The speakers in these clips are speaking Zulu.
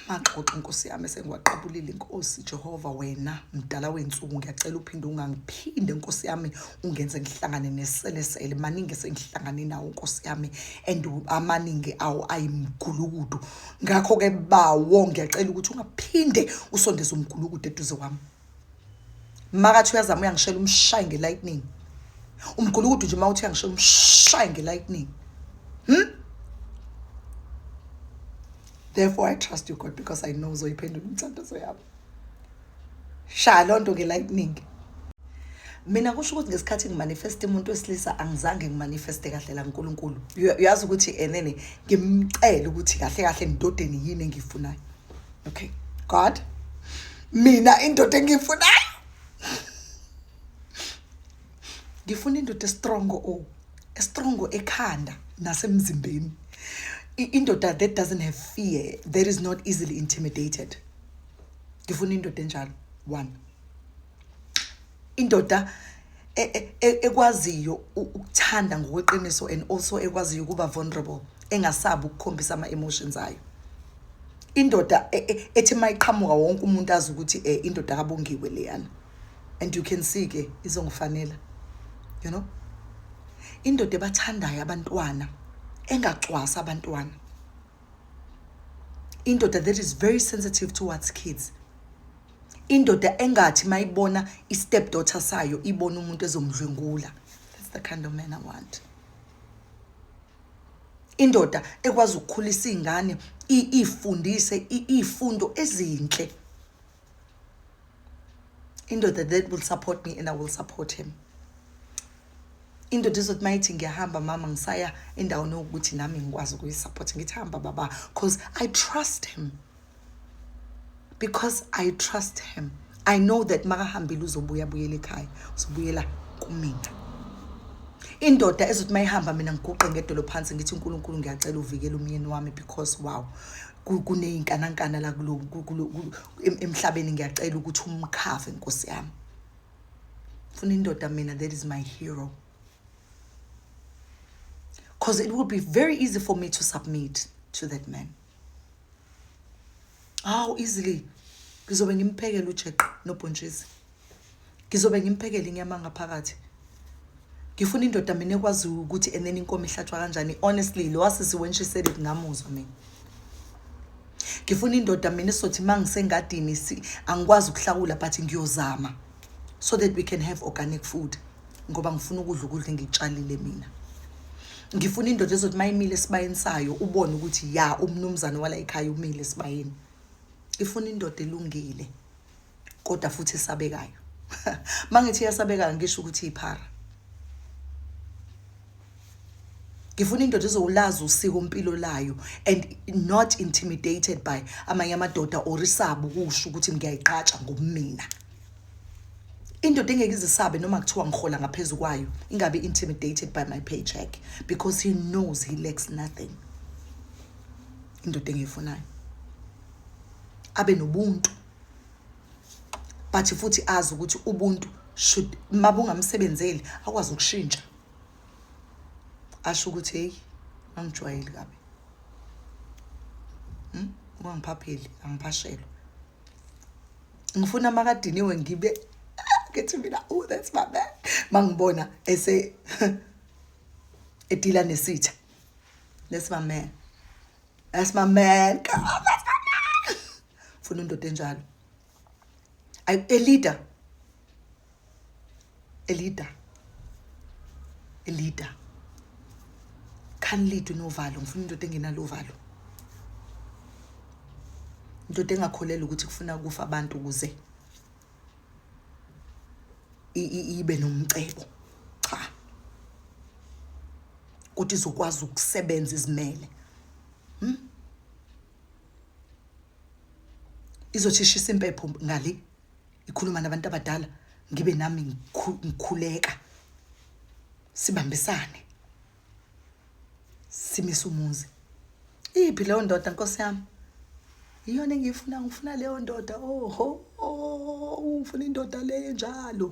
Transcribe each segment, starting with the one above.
maxoxo nkosi yami esengiwaqabulile inkosi jehova wena mdala wensuku ngiyacela uphinde ungangiphinde nkosi yami ungenze ngihlangane neselesele maningi esengihlangane nawo nkosi yami and amaningi awo ayimgulukudu ngakho-ke bawo ngiyacela ukuthi ungaphinde usondeze umgulukudu eduze wami makathi uyazama uyangishela umshaye ngelightning umgulukudu nje mawuthi uyangishela umshaye ngelightning hmm? therefore i trust you god because i know uzoyiphendula umthandazo yabo shaya loo nto ngelightning mina kusho ukuthi ngesikhathi ngimanifeste umuntu wesilisa angizange ngimanifeste kahle la nkulunkulu uyazi ukuthi enene ngimcele ukuthi kahle kahle ndodeni yini engiyifunayo okay god mina indoda engiyifunayo ngifuna indoda estrong o oh, estrong ekhanda nasemzimbeni indoda that doesn't have fear that is not easily intimidated ngifuna indoda enjalo one indoda e, e, e, ekwaziyo ukuthanda ngokweqiniso and also ekwaziyo ukuba vulnerable engasabi ukukhombisa ama emotions ayo indoda ethi mayiqhamuka wonke umuntu azi ukuthi eh indoda kabongiwe leyana and you can see ke izongifanela you know indoda ebathandayo abantwana engacwasa abantwana indoda that is very sensitive towards kids indoda engathi mayibona i-step daughter sayo ibona umuntu ezomdlwengula that's the kind of man i want indoda ekwazi ukukhulisa iy'ngane iy'fundise iy'fundo ezinhle indoda that will support me and i will support him indoda izothi mayithi ngiyahamba mama ngisaya endaweni yokuthi nami ngikwazi ukuyisupport ngithi hamba baba because i trust him because i trust him i know that makahambile uzobuya buyela ekhaya uzobuyela kumina indoda ezothi mayihamba mina ngiguqe ngedolo phansi ngithi uNkulunkulu ngiyacela uvikele umyeni wami because wow kuney'nkanankana la emhlabeni ngiyacela ukuthi umkhave nkosi yami funa indoda mina that is my hero because it would be very easy for me to submit to that man how easily ngizobe ngimphekela ujeqe nobhontshisi ngizobe ngimphekele inyama ngaphakathi ngifuna indoda mina ekwaziyo ukuthi enene inkomo ihlatshwa kanjani honestly lo wasisi when she said it ngamuzwa mina ngifuna indoda mina esizothi uma ngisengadini angikwazi ukuhlawula but ngiyozama so that we can have organic food ngoba ngifuna ukudla ukudla engikutshalile mina ngifuna indoda ezothi uma imile esibayeni sayo ubone ukuthi ya umnumzane wala ekhaya umile esibayeni ifuna indoda elungile kodwa futhi esabekayo mangithi yasabekayo ngisho ukuthi iphara ngifuna indoda ezowulazi usiko mpilo layo and not intimidated by amanye amadoda or isaba ukusho ukuthi ngiyayiqatsha ngobumina indoda engeke izisabe noma kuthiwa ngihola ngaphezu kwayo ingabe intimidated by my paycheck because he knows he lacks nothing indoda engiyifunayo abe nobuntu but futhi azi ukuthi ubuntu should uma bungamsebenzeli akwazi ukushintsha asho ukuthi heyi angijwayeli kabi hmm? ungangiphapheli angiphashelwa ngifuna makadiniwe ngibe ngithi mina oh that's my man mangibona ese edila nesitha that's my man that's my man come on funa indoda enjalo elida elida elida khani lidwe novalo ngifuna indoda engenalo uvalo indoda engakholelwa ukuthi kufuna ukufa abantu ukuze ibe nomcebo cha ukuthi izokwazi ukusebenza izimele hmm? izothishisa impepho ngale ikhuluma nabantu abadala ngibe nami ngikhuleka sibambisane simise umuzi iphi leyo ndoda nkosi yami iyona engiyifuna ngifuna leyo ndoda oho oh, ufuna indoda leyo njalo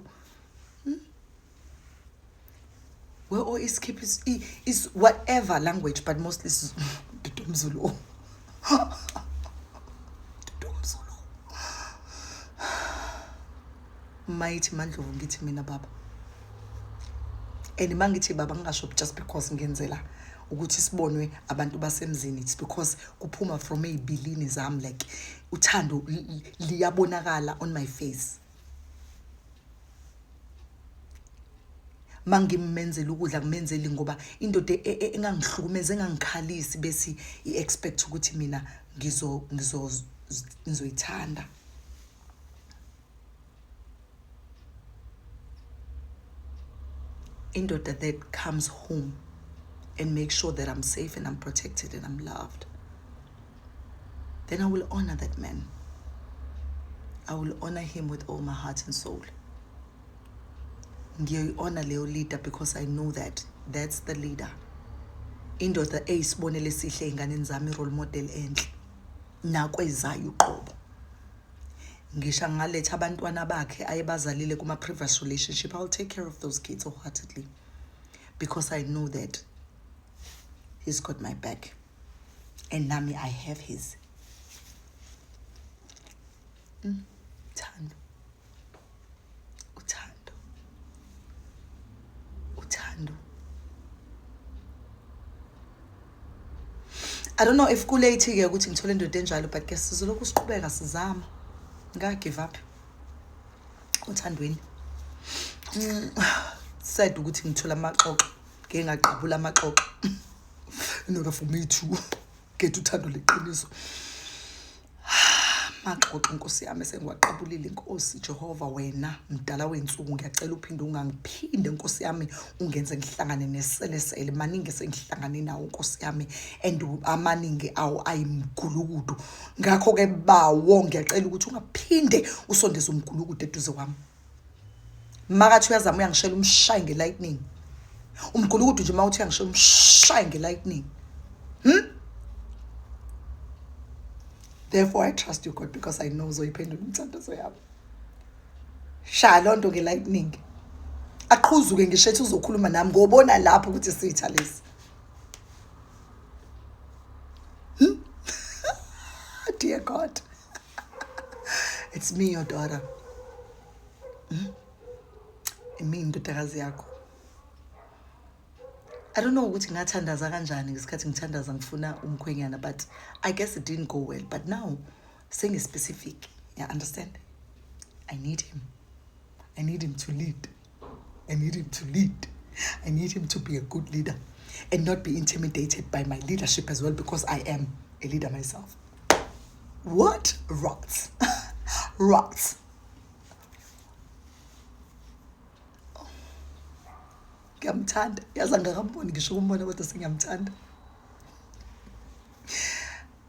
we all is keep is, is whatever language but mostly is Mzulu. mayithi mandlovu ngithi mina baba and uma ngithi baba ngingasho just because ngenzela ukuthi sibonwe abantu basemzini it's because kuphuma from ey'bilini zami like uthando liyabonakala on my face mangimmenzela ukudla kumenzeli ngoba indoda e, e, engangihlukumeza engangikhalisi bese i-expect ukuthi mina ngizo ngizo ngizoyithanda indoda that comes home and make sure that I'm safe and I'm protected and I'm loved then I will honor that man. I will honor him with all my heart and soul. Ngiyoyi-honor leyo leader because I know that that's the leader. Indoda eyisibonelo esihle ey'nganeni zami role model enhle nakwezayo uqobo. Ngisho angaletha abantwana bakhe ayebazalile kuma-previous relationship, I'll take care of those kids wholeheartedly because I know that he's got my back. and nami i have his mm. thando uthando uthando i don't know if kulate ke ukuthi ngithole indoda enjalo but ke sizolokhu siqhubeka sizama ngika give up uthandweni mm. sad ukuthi ngithola amaxoxo ngeke ngaqabula amaxoxo in order for me to get uthando leqiniso maxoxo nkosi yami sengiwaqabulile inkosi jehova wena mdala wensuku ngiyacela uphinde ungangiphinde nkosi yami ungenze ngihlangane neselesele maningi sengihlangane nawo nkosi yami and amaningi awo ayimgulukudu ngakho-ke bawo ngiyacela ukuthi ungaphinde usondeze umgulukudu eduze kwami makathi uyazama uyangishela umshaye ngelightning umgulukudu nje mawuthi uyangishela umshaye ngelightning hmm? therefore i trust you god because i know uzoyiphendula umthandazo yabo shaya loo nto ngelightning aqhuzuke ngisho ethi uzokhuluma nami ngobona lapho ukuthi sitha lesi hmm? dear god it's me your daughter hmm? imi indodakazi yakho i don't know ukuthi ngathandaza kanjani ngesikhathi ngithandaza ngifuna umkhwenyana but i guess it didn't go well but now sengispecific ya understand i need him i need him to lead I need him to lead. I need him to be a good leader and not be intimidated by my leadership as well because I am a leader myself. What? Rot. Rot. ngiyamthanda yazi angakamboni ngisho ukumbona kodwa sengiyamthanda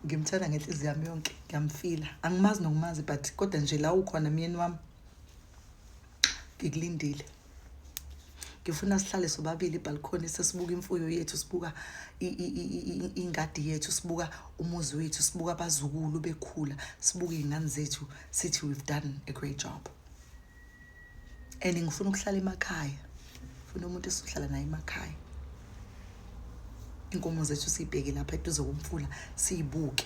ngimthanda ngenhliziyo yami yonke ngiyamfila angimazi nokumazi but kodwa nje la ukhona myeni wami ngikulindile ngifuna sihlale sobabili ibhalkhoni sesibuka imfuyo yethu sibuka ingadi yethu sibuka umuzi wethu sibuka abazukulu bekhula sibuke iy'ngane zethu sithi we've done a great job and ngifuna ukuhlala emakhaya ngifuna umuntu esizohlala naye emakhaya inkomo zethu siyibheke lapha eduze komfula siyibuke